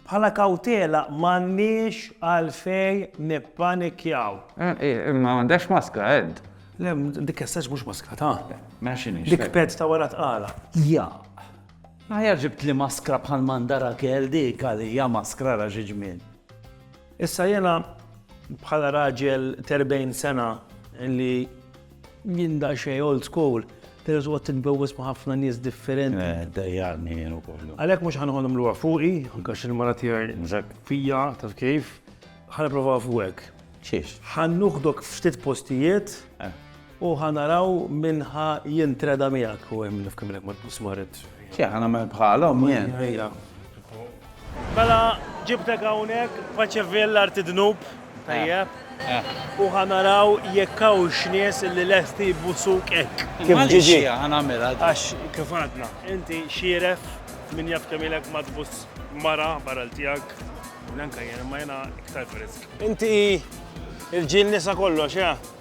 Bħala kawtela m'għandniex għalfejn nippanikjaw. Imma m'għandekx maskra, Ed. Le, dik essax mhux maskra ta'. Mela x'inhi? Dik peds ta' wara tqala. Jaq. Aħjar ġibtli maskra bħal m'għandha Rakel dik għalija maskra ra xi ġmiel. Issa jiena bħala raġel t'erbgħin sena li. Jien daqsxejn old school, però tqgħod titbewwes ma' ħafna nies differenti. Eh, dejjaqni jien ukoll. Għalhekk mhux ħa noħodhom lura fuqi, anke għax il-mara tiegħi fija, taf kif, ħa nipprova fuqek. Xiex? Ħa nuħdok ftit postijiet eh. u ħa naraw minn ħa jintreda miegħek u hemm nifkimlek ma tbus marid. Xi ħa nagħmel bħalhom jien. Mela ġibtek hawnhekk Paċeville l-art id-dnub, tajjeb? U ħa naraw jekk hawnx nies li lesti jbusuk hekk. Kif ġiġi? Ħa nagħmilha. Għax kif għadna, inti xieref, min jaf kemm ilek ma tbuss mara barra l-tiegħek, neanka jien, imma jiena iktar frisk. Inti l-ġiel nisa kollox, eh?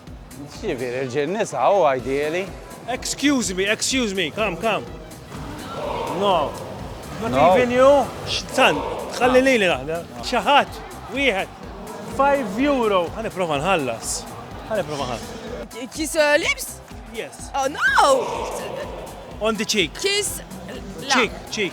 X'jiġifieri rġiel nisa hu ideali? Excuse me, excuse me, come, come. No. Not even you? X'tan, ħalli lili naħdem. Xi ħadd, wieħed. 5 euro. Ħa nipprova nħallas. Ħa nipprova nħallas. Kiss uh, lips? Yes. Oh no! On the cheek. Kiss. Cheek, cheek.